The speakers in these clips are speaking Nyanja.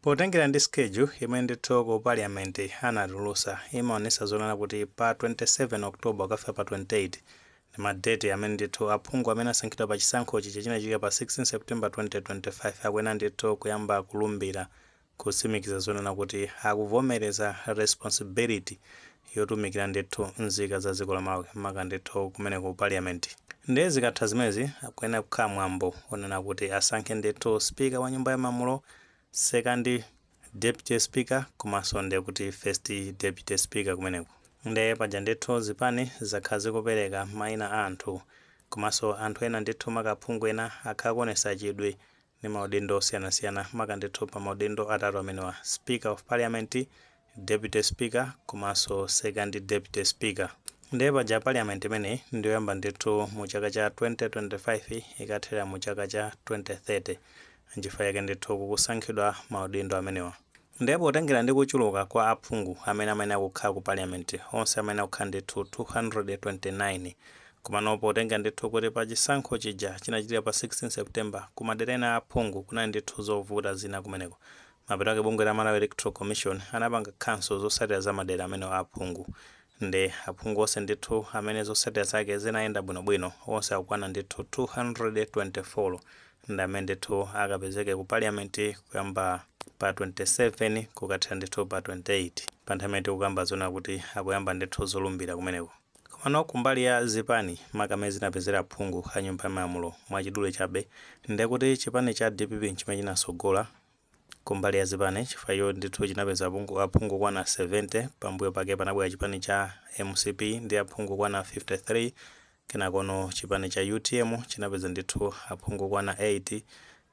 Potengera ndi schedule imene ndithu ku parliament anatulutsa imaonetsa zonena kuti pa 27 October kukafika pa 28 ndi ma date amene ndithu aphungu amene asankhidwa pa chisankho chija chinachitika pa 16 September 2025 akuyenera ndithu kuyamba kulumbira kutsimikiza zonena kuti akuvomereza responsibility yotumikira ndithu nzika za dziko la Malawi maka ndithu kumene ku Parliament. Ndiye zikatha zimenezi kuyenera kukhala mwambo onena kuti asankhe ndithu speaker wa nyumba ya malamulo, second deputy speaker komanso ndiye kuti first deputy speaker kumeneko. Ndiye paja ndithu zipani zakhala zikupereka maina a anthu komanso anthu ena ndithu maka aphungu ena akhala akuonetsa chidwi ndi maudindo osiyanasiyana maka ndithu pa maudindo atatu amenewa, Speaker of Parliament, Deputy Speaker komanso Second Deputy Speaker. Ndiye paja Parliament imeneyi ndi yoyamba ndithu mu chaka cha 2025 ikathera mu chaka cha 2030. Nchifukwa chake ndithu kukusankhidwa maudindo amenewa. Ndiye potengera ndi kuchuluka kwa aphungu amene amayenera kukhala ku Parliament, onse amayenera kukhala ndithu 229, komano potengera ndithu kuti pa chisankho chija chinachitika pa 16 September ku madera ena aphungu kunali ndithu zovuta zina kumeneko, mapeto ake bungwe la Malawi Electoral Commission anapanga cancel zotsatira za madera amenewo a aphungu. Nde aphungu onse ndithu amene zotsatira zake zinayenda bwino bwino, onse akukwana ndithu 224, ndi amene ndithu akapezeke ku parliament kuyamba pa 27 kukathera ndithu pa 28 pa nthawi imene tikukamba zonena kuti akuyamba ndithu zolumbira kumeneko. Komano kumbali ya zipani maka amene zinapezera aphungu a nyumba ya malamulo, mwachidule chabe, ndekuti chipani cha dpp nchimene chinatsogola kumbali ya zipani chifukwa icho ndithu chinapeza aphungu, aphungu okwana 70, pambuyo pake panabwera chipani cha mcp ndi aphungu okwana 53, kenakono chipani cha utm chinapeza ndithu aphungu okwana 8,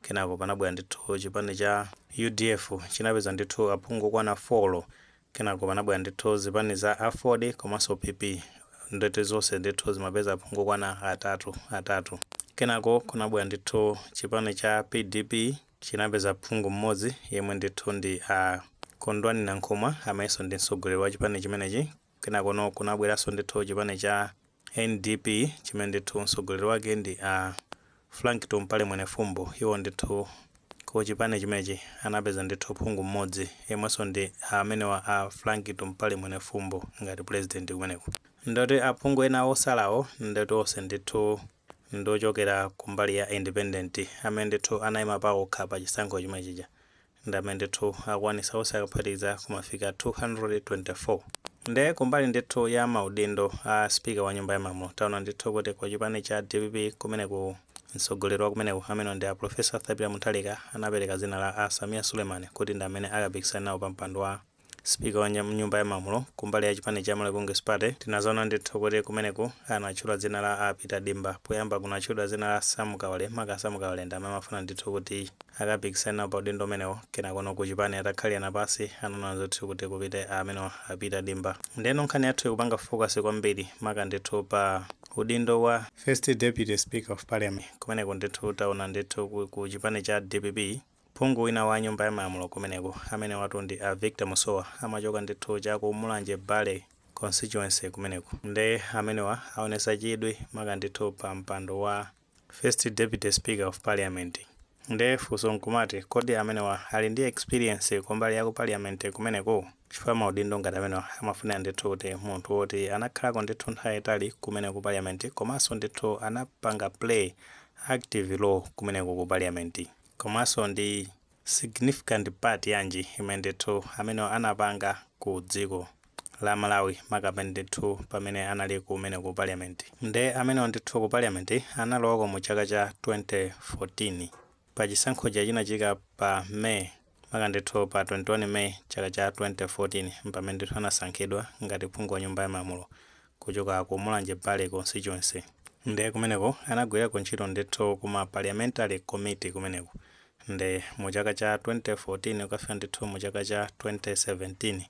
kenako panabwera ndithu chipani cha udf chinapeza ndithu aphungu okwana 4, kenako panabwera ndithu zipani za aford komanso PP ndithu zonse ndithu zinapeza aphungu okwana atatu, atatu, kenako kunabwera ndithu chipani cha pdp, chinapeza phungu mmodzi yemwe ndithu ndi a Kondwani Nankhumwa amenso ndi mtsogoleri wa chipani chimenechi kenakono kunabweranso ndithu chipani cha NDP chimene ndithu mtsogoleri wake ndi a Frank Tumpale Mwenefumbo iwo ndithu ku chipani chimenechi anapeza ndithu phungu mmodzi yemwenso ndi amenewa a Frank Tumpale Mwenefumbo ngati president kumeneko ndoti aphungu ena otsalawo ndoti onse ndithu ndi ochokera ku mbali ya independent amene ndithu anayima pawokha pa chisankho chomwe chija ndi amene ndithu akwanisa onse akaphatikiza kumafika 224 nde kumbali ndithu ya maudindo a speaker wa nyumba ya malamuro tawona ndithu kuti ku chipani cha dpp kumeneku mtsogoleri wa kumeneko amenewo ndi a professor arthur peter mutharika anapeleka dzina la a sameer suleman kuti ndi amene akapikisane nawo pa mpando wa Speaker wa nyumba ya malamulo kumbali ya chipani cha Malawi Congress Party tinazaona ndithu kuti kumeneku anatchula dzina la a Peter Dimba poyamba kunatchudwa dzina la Sam Kawale maka a Sam Kawale ndamene amafuna ndithu kuti akapikisane nawo pa udindo umenewo kenakono ku chipani atakhalirana pasi anaona zoti kuti kupite a amenewa a Peter Dimba ndeno nkhani yathuyi ikupanga focus kwambiri maka ndithu pa udindo wa First Deputy Speaker of Parliament kumeneku ndithu taona ndithu ku chipani cha dpp Phungu wina wa nyumba ya malamulo kumeneku amenewatu ndi a Victor Musowa amachoka ndithu cha ku Mulanje Bale constituency kumeneku nde amenewa aonesa chidwi maka ndithu pa mpando wa first deputy speaker of parliament nde funso nkumati kodi amenewa ali ndi experience kumbali ya ku parliament kumeneku chifukwa maudindo ngati amenewa amafunira ndithu kuti munthu woti anakhalako ndithu nthawi yaitali kumeneku ku parliament komanso ndithu anapanga play active role kumeneko ku parliament. komanso ndi significant part yanji imene ndithu amenewa anapanga ku dziko la Malawi makamaka ndithu pamene anali kumene ku parliament nde amenewo ndithu ku parliament analowako mu chaka cha 2014 pa chisankho chija chinachitika pa May Maka ndithu pa 21 May chaka cha 2014 mpamene ndithu anasankhidwa ngati phungu wa nyumba ya malamulo kuchoka ku Mulanje Bale Constituency. Nde kumeneko anagwirako ntchito ndithu ku ma Parliamentary Committee kumeneko. Nde mu chaka cha 2014 kukafika ndithu mu chaka cha 2017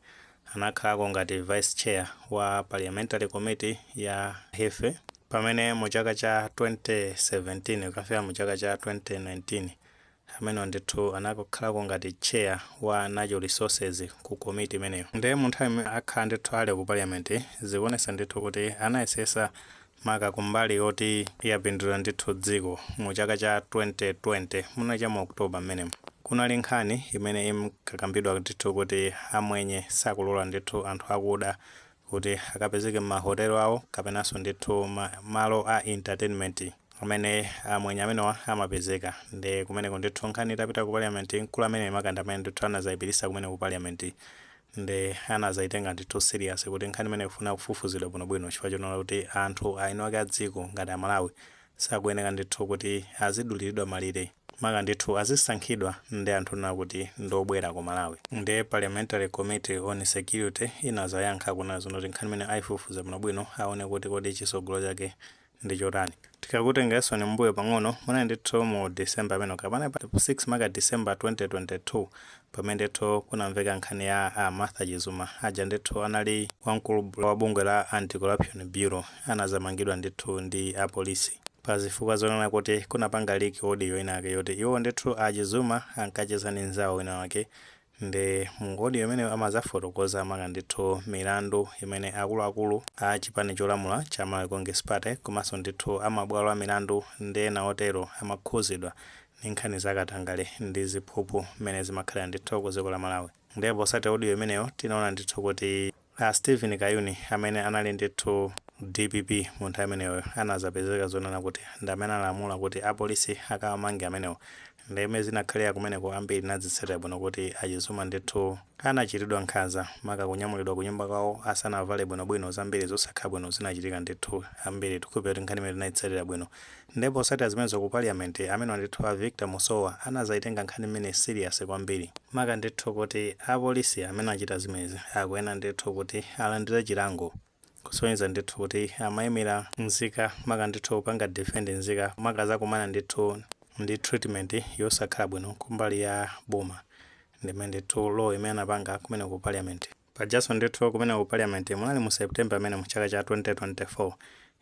anakhalako ngati Vice Chair wa Parliamentary Committee ya Health. Pamene mu chaka cha 2017 kukafika mu chaka cha 2019 Amenewa ndithu anakhalako ngati chair wa natural resources ku committee imeneyo. Nde mu nthawi imene akhala ndithu ali ku parliament zikuonesa ndithu kuti anayesesa maka kumbali yoti yapindulira ndithu dziko. Mu chaka cha 2020 munali cha mu October mmenemo kunali nkhani imene imkakambidwa ndithu kuti amwenye sakulora ndithu anthu akuda kuti akapezeke mma hotel awo kapenanso ndithu mmalo a entertainment amene amwenye amenewa amapezeka nde kumeneko ndithu nkhani itapita ku parliament mkulu ameneyu maka ndi amene ndithu anazayipititsa kumene ku parliament nde anazayitenga ndithu serious kuti nkhani imeneyi ikufuna kufufuzidwa bwinobwino chifukwa choona kuti anthu aeni ake a dziko ngati a Malawi sakuyeneka ndithu kuti azidulilidwa malire maka ndithu azisankhidwa ndi anthu kunena kuti ndi obwera ku Malawi nde parliamentary committee on security inazayankha kunena zoona kuti nkhani imeneyo aifufuza bwino bwino aone kuti kodi chisogolo chake ndi chotani. Tikakutengerensoni mmbuyo pang'ono munali ndithu mu December amenewo kapena pa 6 maka December 2022 pamene ndithu kunamveka nkhani ya a Martha Chizuma aja ndithu anali wamkulu wa bungwe la Anti Corruption Bureau anazamangidwa ndithu ndi apolisi pa zifukwa zonena kuti kunapanga leak audio inayake yoti iwowo ndithu a Chizuma ankacheza ndi nzawo wina wake nde mu audio imeneyo amazafotokoza maka ndithu milandu imene akuluakulu a chipani cholamula cha Malawi Congress Party komanso ndithu a mabwalo a milandu ndi ena otero amakhuzidwa ndi nkhani za katangale ndi ziphuphu mmene zimakhalira ndithu ku dziko la Malawi ndiye posatira audio imeneyo tinaona ndithu kuti a Steven Kayuni amene anali ndithu dpp mu nthawi imeneyoyo anadzapezeka zonena kuti ndi amene analamula kuti apolisi akawamange amenewo ndiye mmene zinakhalira kumeneko ambiri tinadzitsatira bwino kuti a Chizuma ndithu anachitidwa nkhanza maka kunyamulidwa ku nyumba kwawo asanavale bwinobwino zambiri zosakhala bwino zinachitika ndithu ambiri tikukhulupirira kuti nkhani imeneyo tinaitsatira bwino Nde posatira zimenezo ku parliament amenewa ndithu a Victor Musowa anazayitenga nkhani imeneyi serious kwambiri. Maka ndithu kuti apolisi amene achita zimenezi akuyenera ndithu kuti alandire chilango kusonyeza ndithu kuti amayimira nzika maka ndithu kupanga defend nzika maka azakumana ndithu ndi treatment yosakhala bwino kumbali ya boma ndimene ndithu role imene anapanga kumeneko ku parliament. Pajaso ndithu kumeneko ku parliament munali mu September amene mu chaka cha 2024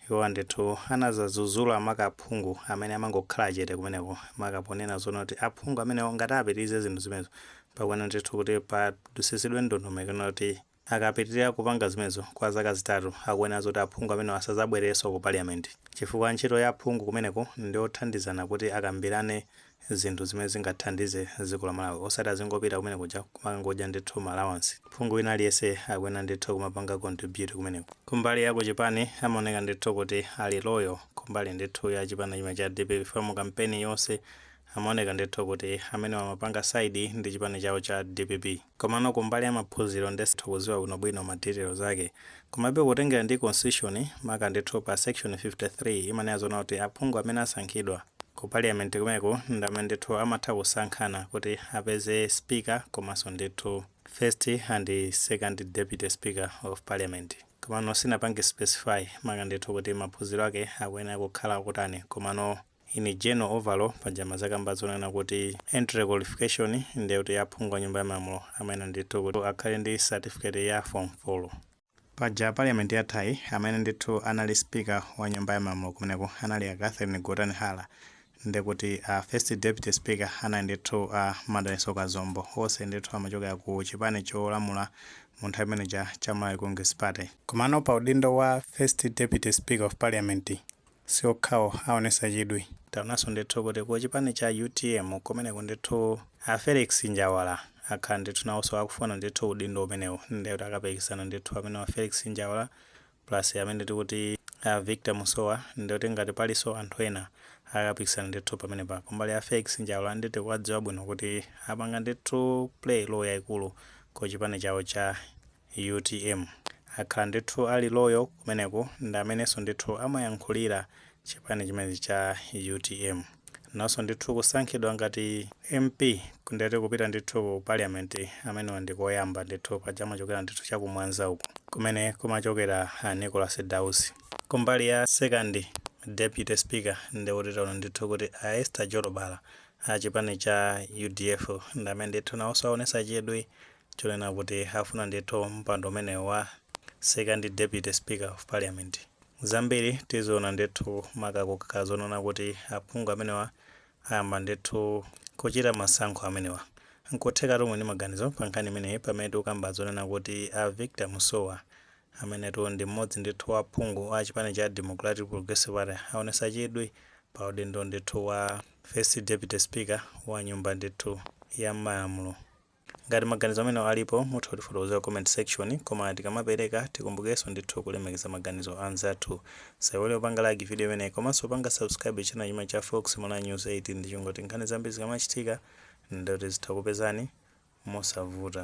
iwowa ndithu anazazuzula maka aphungu amene amangokhala chete kumeneko maka ponena zoona kuti aphungu amenewo ngati apitilize zinthu zimenezo pakuyenera ndithu kuti padusisidwe ndondomeko yonena kuti akapitilira kupanga zimenezo kwa zaka zitatu akuyenera zoti aphungu amenewo asazabwerereso ku parliament chifukwa ntchito ya aphungu kumeneko ndiyothandizana kuti akambilane zinthu zimene zingathandize dziko la Malawi osati azingopita kumene kuja kumangodya ndithu ma allowance. Phungu wina aliyense akuyenera ndithu kumapanga contribute kumeneko. Kumbali ya kuchipani amaoneka ndithu kuti ali loyal kumbali ndithu ya chipani chimenechi cha dpp chifukwa mu kampeni yonse amaoneka ndithu kuti amenewa amapanga side ndi chipani chawo cha dpp. Komano kumbali ya maphuziro nde sitha kuziwa bwino bwino ma details ake. Komabe kutengera ndi constitution maka ndithu pa section 53 imanena zoona kuti aphungu amene asankhidwa Ku parliament kumeneko ndamene ndithu amatha kusankhana kuti apeze speaker komanso ndithu first and second deputy speaker of parliament. Komano sinapange specify maka ndithu kuti maphuziro ake akuyenera kukhala otani komano in general overall paja amadzakamba zonena kuti entry qualification ndiye kuti aphungu a nyumba ya malamulo amayenera ndithu kuti akhale ndi certificate ya form folo. Paja parliament yathayi amene ndithu anali speaker wa nyumba ya malamulo kumeneko anali a Catherine Gotani Hara ndikuti a first deputy speaker anali ndithu a Madalitso Kazombo onse ndithu amachokera ku chipani cholamula mu nthawi imene ija cha Malawi Congress Party. Komano pa udindo wa first deputy speaker of parliament Si okhawo aonetsa chidwi. Taonanso ndithu kuti ku chipani cha utm kumeneko ndithu a Felix Njawala akhala ndithu nawoso akufuna ndithu udindo umenewu nde kuti akapikisana ndithu amenewo a Felix Njawala plus amene tikuti a Victor Musowa nde kuti ngati paliso anthu ena akapikisana ndithu pamenepa. Kumbali ya Felix Njawala nde tikuwadziwa bwino kuti apanga ndithu play role yaikulu ku chipani chawo cha. Utm akhala ndithu ali loyal kumeneko ndi amenenso ndithu amayankhulira chipani chimenechi cha utm. Naonso ndithu kusankhidwa ngati MP nde kuti kupita ndithu ku Parliament amenewa ndi koyamba ndithu paja amachokera ndithu cha ku Mwanza uku kumene kumachokera a Nicholas Dausi. Kumbali ya second Deputy Speaker ndi kuti taona ndithu kuti a Esther Jolobala a chipani cha udf ndi amene ndithu naonso aonetsa chidwi chonena kuti afuna ndithu mpando umenewu wa second deputy speaker of parliament. Zambiri tiziona ndithu maka kukakhala zonena kuti aphungu amenewa ayamba ndithu kuchita masankho amenewa. Nkuthekatu muli ndi maganizo pa nkhani imeneyi pamene tikukamba zonena kuti a Victor Musowa amenetu ndi mmodzi ndithu wa aphungu a chipani cha Democratic Progressive Party aonetsa chidwi pa udindo ndithu wa first deputy speaker wa nyumba ndithu ya malamulo. Ngati maganizo amenewa alipo mutha kutifotokozera ku comment section koma tikamapereka tikumbukirenso ndithu kulemekeza maganizo a anzathu. Musaiwale kupanga like video imeneyi komanso kupanga subscribe channel chimenechi cha Fox Malawi News 8 ndi cholinga choti nkhani zambiri zikamachitika nde kuti zithe kukupezani mosavuta.